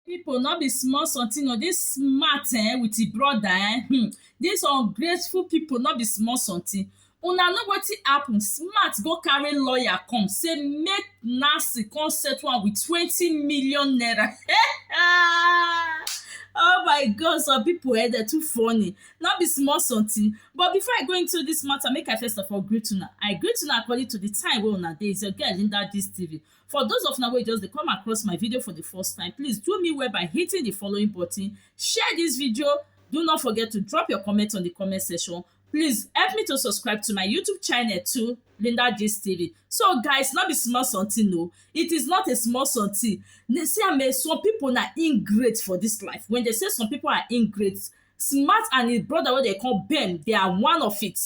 People, not be small something o this smart eh with him brother eh hmm this ungrateful people not be small something una know wetin happen smart go carry lawyer come say make nancy come settle am with twenty million naira oh my god some people eh dey too funny no be small something but before i go into this matter make i first of all greet una i greet una according to the time wey una dey it's your girl linda gist tv For those of una wey just dey come across my video for the first time, please do me well by hitting the following button, share this video, do not forget to drop your comment on the comment section, please help me to subscribe to my YouTube channel too, Linda Gist TV. So guys, no be small something no, it is not a small something. Na- See am eh, some people na ingrate for this life. When they say some people are ingrate, smart and his brother wey they call Ben, they are one of it.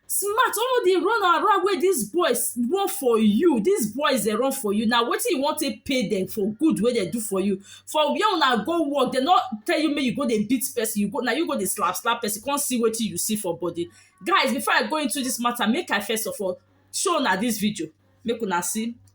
smart all the run around wey dis boys run for you dis boys dey run for you na wetin you wan take pay dem for good wey dem do for you for where una go work dem no tell you make you go dey beat person you go na you go dey slap slap person come see wetin you see for body guys before I go into dis matter make I first of all show una dis video make una see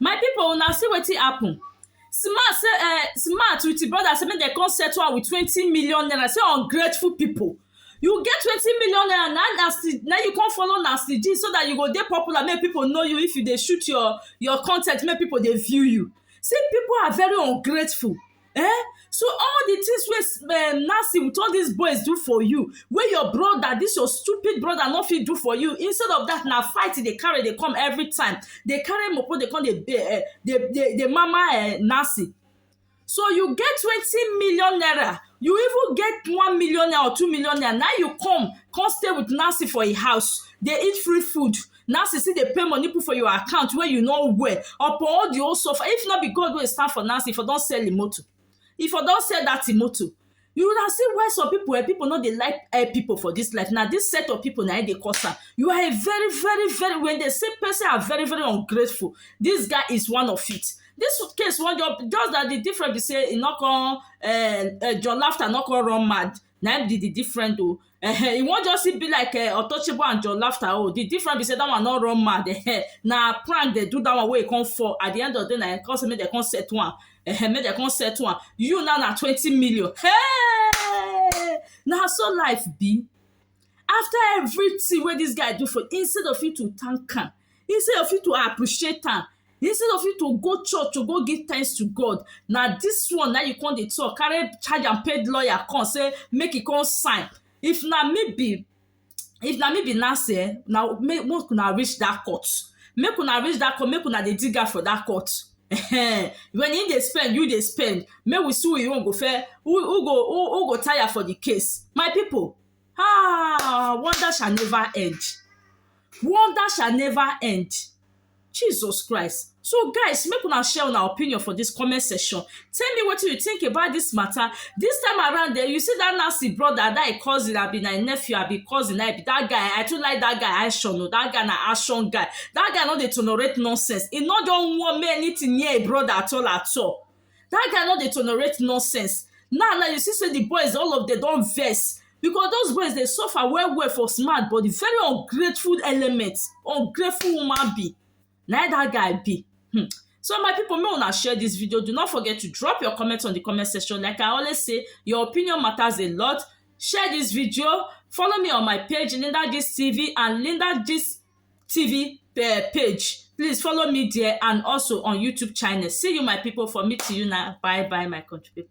My pipu una see wetin happen, Sima say um Sima with im brother say make dem come settle am with twenty million naira say ungrateful pipu, you get twenty million naira na na still na you come follow na still gist so dat you go dey popular make pipu know you if you dey shoot your your con ten t make pipu dey view you, see pipu are very ungrateful eh so all the things wey um Nancy with all these boys do for you wey your brother this your stupid brother no fit do for you instead of that na fight e dey carry dey come every time dey carry mopo dey come dey um dey dey dey mama um Nancy so you get twenty million naira you even get one million naira or two million naira na you come come stay with Nancy for im house dey eat free food now she still dey pay money put for your account wey you no wear upon all the whole suffer if no be God wey stand for Nancy for don sell im motor if for don sell that im motor you would have seen why some people eh, people no dey like eh, people for this life na this set of people na im dey cause am you are a very very very when they say person are very very ungrateful this guy is one of it this case wan just just that the difference be say e no come eh, eh, John laughter no come run mad na im be the different o um e wan just be like um untouchable and john laster o the different be say that one no run mad um na prank dem do that one wey e come fall at the end of the day na e come say make dem come settle am um make dem come settle am you now na twenty million hey! na so life be After everything wey dis guy do for you, instead of you to thank am, instead of you to appreciate am, instead of you to go church to go give thanks to God, na dis one na you come dey talk, carry charge am pay lawyer come say make e come sign. If na me be if na me be Nancy um na make una reach dat court, make una reach dat court, make una dey dig am for dat court um when im dey spend you dey spend, make we see who im own go first who who go who go tire for de case. My pipu Ah, wonder shall never end. Wonder shall never end. Jesus Christ. So guys, make una share una opinion for this comment section. Tell me what you think about this matter. This time around there, eh, you see that nasty brother, that cousin, I be my nephew, I be cousin, I be that guy. I too like that guy, I sure know. That guy na action guy. That guy no dey tolerate nonsense. He no don want me anything near a brother at all at all. that guy no dey tolerate nonsense now now you see say the boys all of them don vex because those boys dey suffer well well for smart but the very ungrateful element ungrateful human being na that guy be hmm so my people make una share this video do not forget to drop your comment on the comment section like i always say your opinion matters a lot share this video follow me on my page linda gist tv and linda gist tv um page please follow me there and also on youtube channel see you my people for meeting you now bye bye my country people